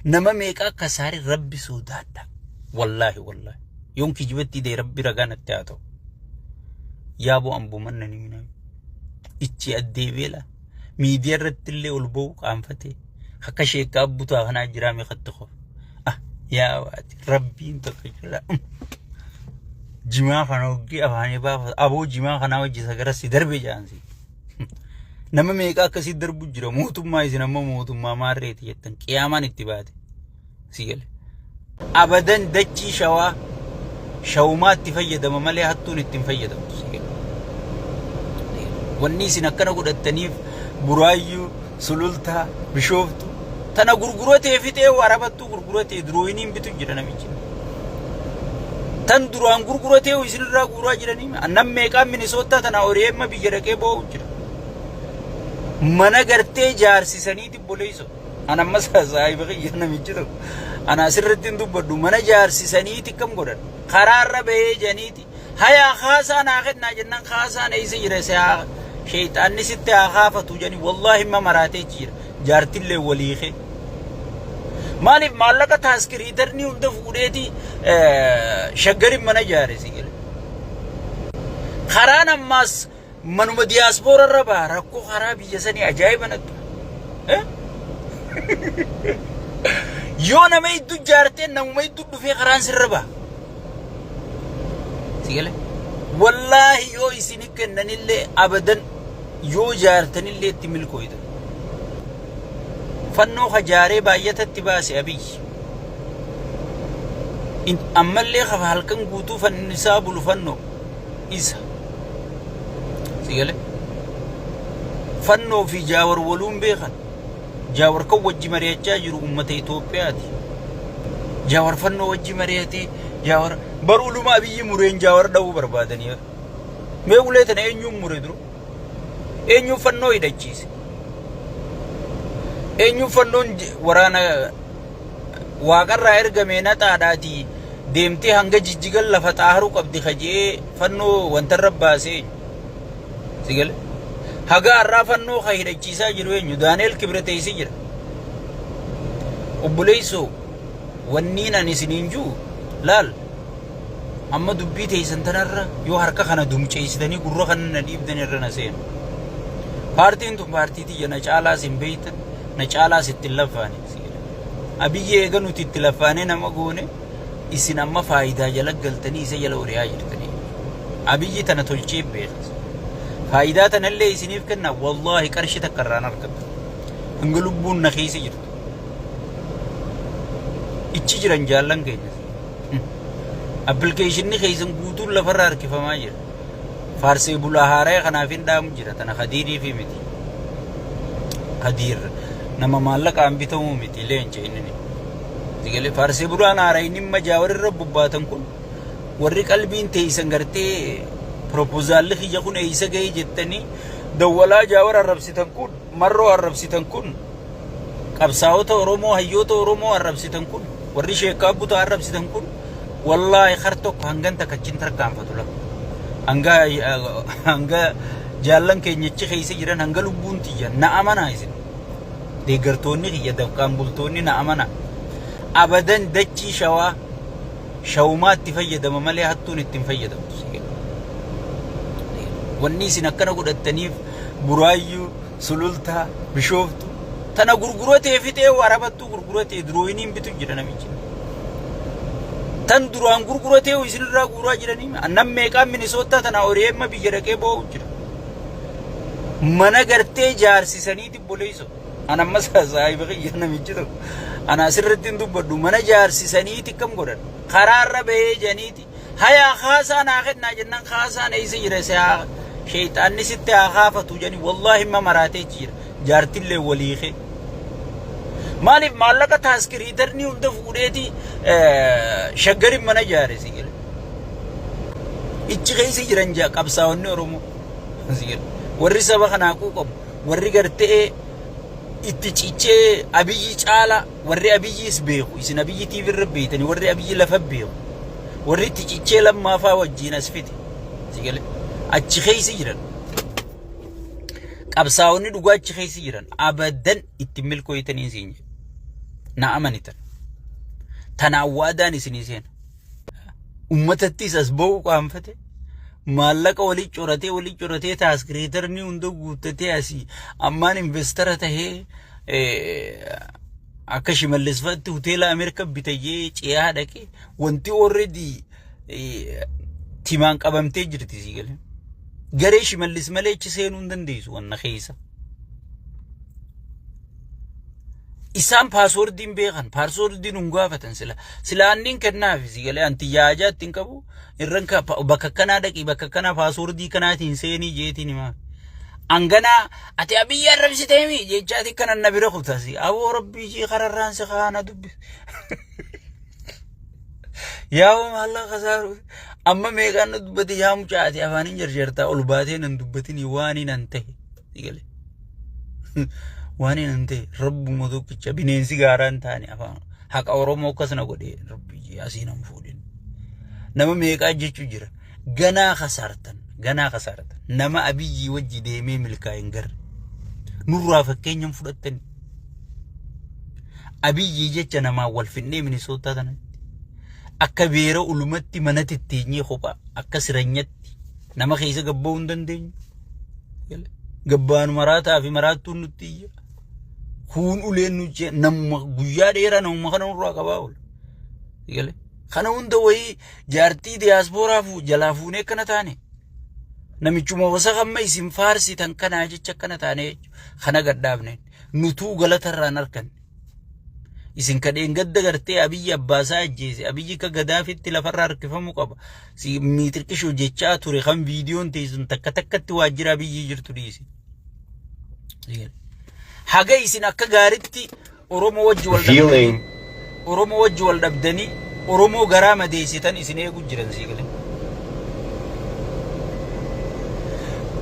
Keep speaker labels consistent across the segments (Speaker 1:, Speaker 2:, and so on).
Speaker 1: Nama meeqa akka saare rabbi soodaadha. Wallaahi wallaahi. Yoon kijibatti dee rabbi ragaa natti haa ta'u. Yaa boo amboo manna ni miname. Ichi addee beela. Miidiyaa irratti illee ol ba'u qaanfatee. Akka sheekkaa abbutaa kanaa jiraa meeqatti qof. Ah yaa waati rabbiin tokko jira. Jimaa kana hoggii afaanii baafata. Aboo jimaa kanaa hojjeta gara si darbe jaansi. Nama meeqa akkasii darbu jira mootummaa isin amma mootummaa maarreeti jettan qiyaamaan itti baate. Si gale. Abadan dachii shawaa shawumaa itti fayyadama malee hattuun itti hin fayyadamtu. Si gale. Wanni isin akkana godhattaniif buraayyuu sulultaa bishooftu tana gurguratee fixee warabattu. gurguratee durooyiniin bitu jira namichi. Tan duraan gurguratee isinirraa guuraa jiranii nam meeqaan minisoottaa tanaa ori'eemma biyya dhaqee boo'u jira. Mana gartee jaarsisaniiti boleeyso. An ammas saahiba kiyya namichi tokko. Ana asirratti hin dubbadhu mana jaarsisaniiti kam godhan. Karaarra bahee janiiti. Hayaa kaasaa naa kennaa jennan kaasaan eessa jira si haa sheeyxaanni sitti haa kaafatu jedhanii wallaahi himma maraatee achi jira jaartillee walii kee. Maaliif maallaqa taaskiriitarnii hunda fuudheeti shaggariin mana ijaare si gale. Karaan ammaas Manuma diyaaspoora irra baha rakkoo karaa biyya sanii ajaa'iba nattu. Yoo nama hedduu jaartee namuma hedduu dhufee karaan sirra baha. Sigale. Wallaahi yoo isin kennanillee abadan yoo jaartanillee itti milkooyta. Fannoo hajaaree baay'atatti baase abiyyi. Ammallee kafa halkan guutuu fannisaa bulu fannoo. isa. Si gale? Fannoo fi jaawar waluun beekan. Jaawar kan wajji mari'achaa jiru uummata Itoophiyaati. Jaawar fannoo wajji mari'atee jaawar baruu luma abiyyi mureen jaawar dha'uu barbaadanii bara. Mee ulee tana eenyuun mure dura? Eenyuun fannoo hidhachiise? Eenyuun fannoon j- waraana waaqarraa ergamee naxaadhaatii deemtee hanga jijjigan lafa xaaharuu qabdi kaje'ee fannoo wantarra baasee eenyu? Si gale? Haga har'aa fannoo ka hidhachiisaa jiru eenyu? Daani'el Kibreteessi jira. Obboleessoo wanniin ani isiniin jiru laal amma dubbii teessan tanarra yoo harka kana dumceessitanii gurra kana na dhiibdan irra na seenu. Paartiin tun paartii tiyya na caalaas hin beektan na caalaas itti hin laffaane. Abiyyi eega nuti itti laffaanee nama goone isin amma faayidaa jala galtanii isa jala ori'aa jirtanii. Abiyyi tana tolchee beektu. Faayidaa tanallee isiniif kenna wallaahi qarshii takka irraan argattu. Hanga lubbuun na keessa jirtu. Ichi jiran jaallan keenya. Appilikeeshinni keessan guutuun lafarra harkifamaa jira. Faarsii bulaa haaraya kanaaf hin dhaamu jira tana kadiirii fi miti. Kadiir nama maallaqaan bitamuu miti leenca inni ni. Digalee faarsii bulaan haaraya inni imma jaa warri irra bobbaatan kun warri qalbiin teeysan gartee proposaalli kiyya kun eeysa gahee jettanii dawwalaa jaa warra arrabsitan kun Marroo arrabsitan kun qabsaawota Oromoo hayyoota Oromoo arrabsitan kun warri sheekkaa buta arrabsitan kun wallaahi har tokko hangan takka chin tarkaanfatu la hanga hanga jaallan keenya achi keessa jiran hanga lubbuun tiyya na amanaa isin deeggartoonni kiyya dafqaan bultoonni na amanaa abadan dachii shawaa shawumaa itti fayyadama malee hattuun itti hin fayyadamtu si jedhu. Wanni isin akkana godhattaniif buraayyuu sulultaa bishooftu tana gurguratee fixee warabattuu gurguratee durooyiniin bitu jira namichi. Tan duraan gurguratee isinirraa guuraa jiranii annan meeqaan minisoottaa tana horiyeemma biyya dhaqee boo'u jira. Mana gartee jaarsisaniiti boleessoo. An ammas saahiba kiyya namichi tokko ana asirratti hin dubbadhu mana jaarsisaniiti kam godhan karaarra bahee janiiti hayaa kaasaa naa kennaa jennaan kaasaan eessa jira si haa sheeyxaanni sitti haa kaafatu janii wallaahi himma maraatee achi jira jaartillee walii kee maaliif maallaqa taaskiriitarni hunda fuudheeti shaggarin mana jaare si gale ichi keessa jiran jaa qabsaa'onni oromoo si gale warri saba kanaa quuqamu warri gartee itti cichee abiyyi caala warri abiyyiis beeku isin abiyyi TV irra beeytani warri abiyyi lafa beeku warri itti cichee lammaafaa wajjiin as fite sigale achi keessa jiran qabsaa'onni dhugaa achi keessa jiran abadan itti milkooytanii siin jedhe na amanitan tanaan waadaan isinii seena ummatattis as ba'uu qaanfate maallaqa walii coratee walii coratee taas kireetarni hunda guuttatee asii ammaan investara tahee akka shimallesfaatti hoteela Ameerika bitayee ce'aa dhaqee wanti already timaan qabamtee jirti sii galee. Garee shimallis malee achi seenuu hin dandeessu wanna keessa. Isaan paaswoordiin beekan, paaswoordiin nun gaafatan sila. Sila anniin kennaaf si galee anti yaajaa ittiin qabu. Irran ka- pa- bakka akkanaa dhaqii bakka akkanaa paaswoordii kanaatiin seenii jeetiin himaa. Anganaa ati abiyyi arrabsiteemi jechaati kanan na bira kutasi. Aboo rabbii jii kararraan si kaana dubbi. Yaa maallaa kasaaru. Amma meeqaan nu dubbate yaa mucaati afaan hin jarjartaa ol baatee nan dubbatin waaniin an ta'e. Si galee. Waan hin ta'e rabbuma tokkicha bineensi gaaraa hin taane afaan haqa Oromoo akkas na godhe rabbi asii nan fuudhin. Nama meeqaa jechuu jira. Ganaa kasaartan ganaa kasaartan nama abiyyii wajji deemee milkaa hin garre. Nurraa fakkeenya hin fudhattani. Abiyyii jecha namaa wal finnee minisootaa tanatti. Akka beera ulumatti manatti itti kophaa akka siranyatti. keessatti nama keessa gabba'uu hin dandeenyu. Gabbaanu maraataa fi maraattuun nutti iyya. Kuun uleen nuti namuma guyyaa dheeraa namuma kana nurraa qabaa oola. Galee. Kana hunda wayii jaartii diyaaspooraa fu- jalaa fuunee akkana taane. Namichuma wasaka amma isin faarsitan kanaa jecha akkana taane jechuudha. Kana gadhaabneen nutuu galatarraan arganne. Isin kadheen gadda gartee abiyyi abbaasaa ajjeese abiyyi akka gadaafitti lafarra harkifamuu qaba. Si miixirqishoo jechaa ture kan viidiyoon teessun takka takkatti waajjira abiyyi jirtu dhiise. Haga isin akka gaaritti Oromoo wajji wal dhabdanii Oromoo wajji wal dhabdanii Oromoo garaa madeessitan isin eegu jiran sii galee.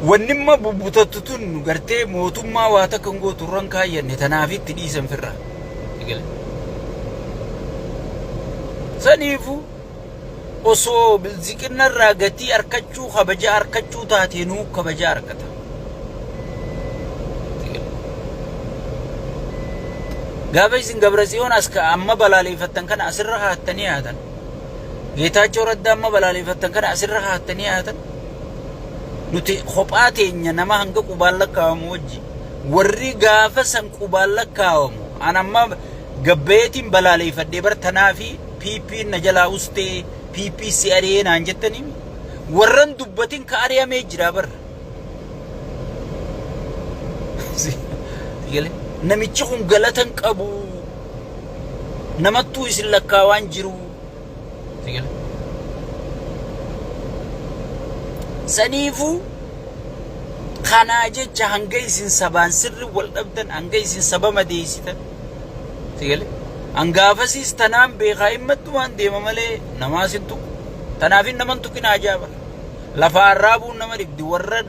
Speaker 1: Wannimma bubbutattu tun gartee mootummaa waa takka hin gootu irran kaayyanne tanaaf itti dhiisan firra. Sii galee. Saniifu osoo bilziqinna irraa gatii arkachuu kabaja arkachuu taatee nuu kabaja arkata. Gaafa isin Dabratsiyoon as ka amma balaaleeffattan kana asirra kaattanii haatan. Geetaachoo Raddaa amma balaaleeffattan kana asirra kaattanii haatan. Nuti kophaa teenya nama hanga qubaan lakkaa'amu wajji. Warri gaafa san qubaan lakkaa'amu. An amma gabbayeetiin balaaleeffadhee bar tanaa fi PP na jalaa ustee PP si ari'ee naan jettanii warran dubbatin ka ari'amee jira bar. Galee namichi kun galata hin qabu namattuu isin lakkaa waan jiru. Galee. Saniifuu kanaa jecha hanga isin sabaan sirri wal dhabdan hanga isin saba madeessitan. Galee. Hangaafasiis tanaan beekaa himmattumaan deema malee namaa sin tuqu. Tanaafin naman tuqinaa jaabala. Lafaa arraabuun nama dhibdi warra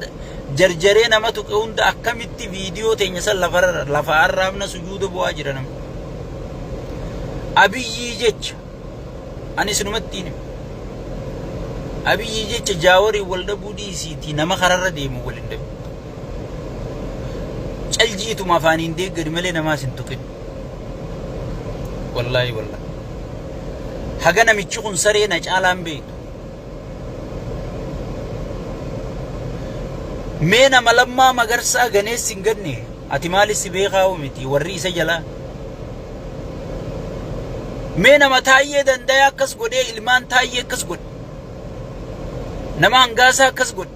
Speaker 1: jarjaree nama tuqe hunda akkamitti viidiyoo teenya san lafarra lafaa arraabna sujuuda bu'aa jira nama. Abiyyii jecha ani isinumatti hin Abiyyii jecha jaawarii wal dhabuu dhiisiitii nama kararra deemu wal hin dhabu. Caljiituma afaaniin deeggari malee namaas hin tuqin. Wallaahi wallaahi. Haga namichi kun saree na caalaan beektu. Mee nama lammaa magarsaa ganeessi hin ganne ati maali si beekaawu miti warri isa jalaa. Mee nama taayyee dandaya akkas godhee ilmaan taayyee akkas godhe. Nama hangaasaa akkas godhe.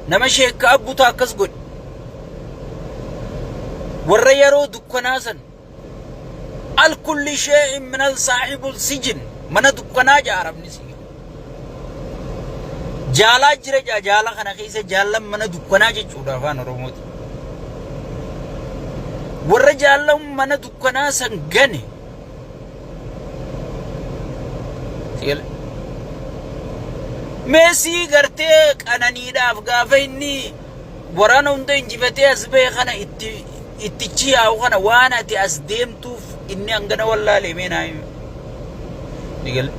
Speaker 1: Nama sheekka abbutaa akkas godhe. Warra yeroo dukkanaa san Alkulli shee'in minal saahibul sijin mana dukkanaa ja'a arabni siyya. Jaalaa jira ja'a jaala kana keessa jaallan mana dukkanaa jechuudha afaan Oromooti. Warra jaallan mana dukkanaa san gane. Si'ele. Meesii gartee qananiidhaaf gaafa inni waraana hunda injifatee as bahe kana itti ittichi yaa'u kana waan ati as deemtuuf inni hangana wallaalee mee naa himi. Ni gale.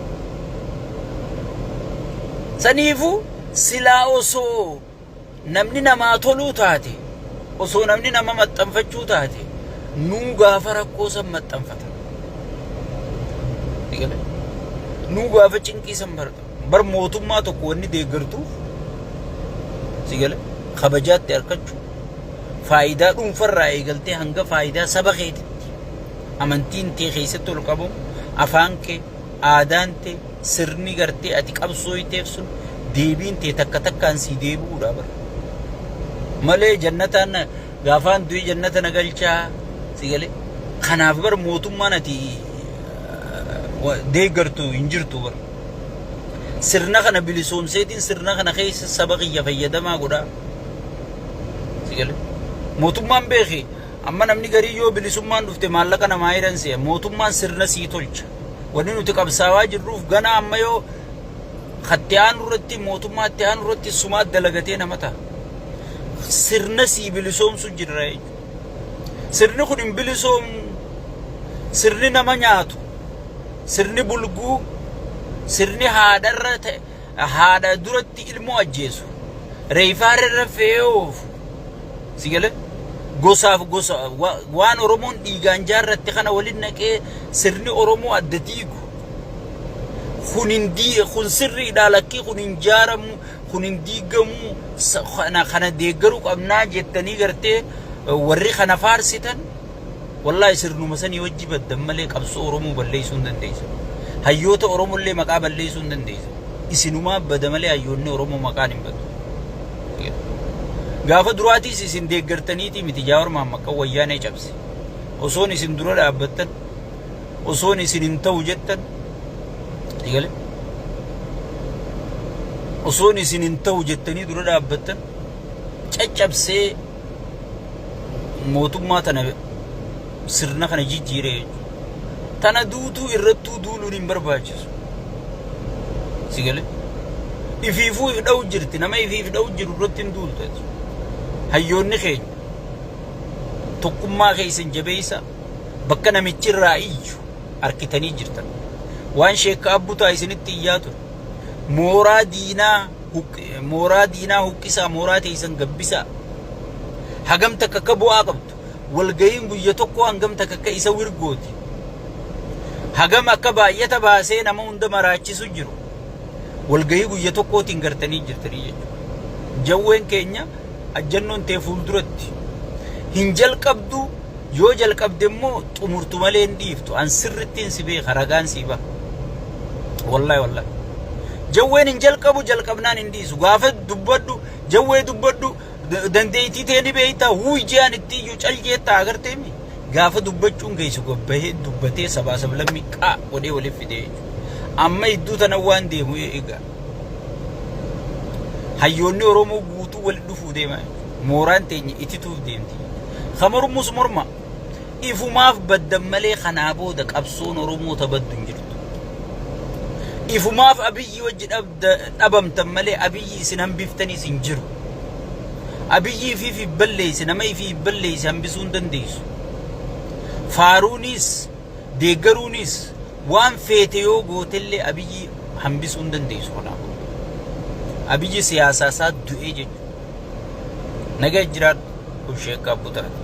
Speaker 1: Saniifuu silaa osoo namni namaa toluu taate osoo namni nama maxxanfachuu taate nuu gaafa rakkoo san maxxanfata. Ni gale. Nuu gaafa cinqii san barata. Bar mootummaa tokko wanni deeggartuuf si gale kabajaatti harkachuu faayidaa dhuunfarraa eegaltee hanga faayidaa saba keetitti amantiin tee keessatti ol qabamu afaan kee aadaan tee sirni gartee ati qabsooyteef sun deebiin tee takka takkaan sii deebi'uudha bar malee jannataan na- gaafaan du'e jannata na galchaa si gale kanaaf bar mootummaan ati eh, wa- deeggartu hin jirtu bar Sirna kana bilisoomseetiin sirna kana keessa saba kiyya fayyadamaa godhaa. Sigale. Mootummaan beeki amma namni garii yoo bilisummaan dhufte maallaqa namaa hiran se'a. Mootummaan sirna sii tolcha. Wanni nuti qabsaawaa jirruuf gana amma yoo katti aanu irratti mootummaa itti aanu irratti sumaa dalagatee nama ta'a. Sirna sii bilisoomsu jirra jechuudha. Sirni kun hin bilisoomu. Sirni nama nyaatu. Sirni bulguu. Sirni haadharra ta'e haadha duratti ilmoo ajjeesu. Reefaarra fe'ee oofu. Si galee? Gosaaf gosa wa- waan Oromoon dhiigaan jaarratte kana waliin naqee sirni Oromoo adda diigu. Kun hin dii- kun sirriidhaa lakkii kun hin jaaramu. kun hin diigamuu sa- kana kana deeggaruu qabnaa jettanii gartee eh, warri kana faarsitan wallaahi sirnuma sanii wajji baddan malee qabsoo Oromoo balleessuu hin dandeessu. Hayyoota Oromollee maqaa balleessuu hin dandeessu. Isinumaa bada malee hayyoonni Oromoo maqaan hin badu. Gaafa duraatiis isin deeggartaniitii miti Jaawar Maammaqqan wayyaanee cabse. Osoon isin dura dhaabbattan osoon isin hin ta'u jettan eegale osoon isin hin ta'u jettanii dura dhaabbattan caccabsee mootummaa tana sirna kana jijjiire jechuudha. Tana duutuu irrattuu duuluun hin barbaachisu. Si galee? Ifiifuu if dha'u jirti nama ifiif dha'u jiru irratti hin duultu. Hayyoonni keenya tokkummaa keessan jabeessa. Bakka namichi irraa iyyu arkitanii jirtan. Waan sheekka abbutaa isinitti iyyaa ture. Mooraa diinaa mooraa diinaa huqqisaa mooraa teeysan gabbisaa. Hagam takka akka bu'aa qabdu. Walgayiin guyya tokko hangam takka akka isa wirgooti. Hagam akka baay'ata baasee nama hunda maraachisu jiru. Walgayii guyya tokkootiin gartanii jirtanii jechuudha. Jawween keenya Ajjannoon tee fuulduratti hin jalqabdu, yoo jalqabde immoo xumurtu malee hin dhiiftu. An sirrittiin si beeka ragaan sii baha. Wallahi wallahi. Jawween hin jalqabu jalqabnaan hin dhiisu. Gaafa dubbadhu jawwee dubbadhu dandeettii tee ni beekta wuuy je'an itti iyyuu cal jeetta agartee mi? Gaafa dubbachuun geessu gabbahee dubbatee sabaa sablammii qaa godhee waliif fidee jechuudha. Amma idduu tana waan deemu eegaa. Hayyoonni Oromoo guutuu walitti dhufuu deema. Mooraan teenya itituuf deemti. Ka mormus morma. Ifumaaf baddan malee kanaa booda qabsoon Oromoo tabaddu hin jirtu. Ifumaaf abiyyi wajji dhabda- dhabamtan malee abiyyi isin hambiftaniis hin jiru. Abiyyi ifiif hin balleessi, nama ifii hin balleessi hambisuu hin dandeessu. Faaruunis, deeggaruunis, Waan feete yoo gootellee Abiyyi hambisuu hin dandeessu kanaa booda. Abiyyi siyaasaa isaa du'ee jechuudha. Naga jiraadhu Obsheekkaa Butarati.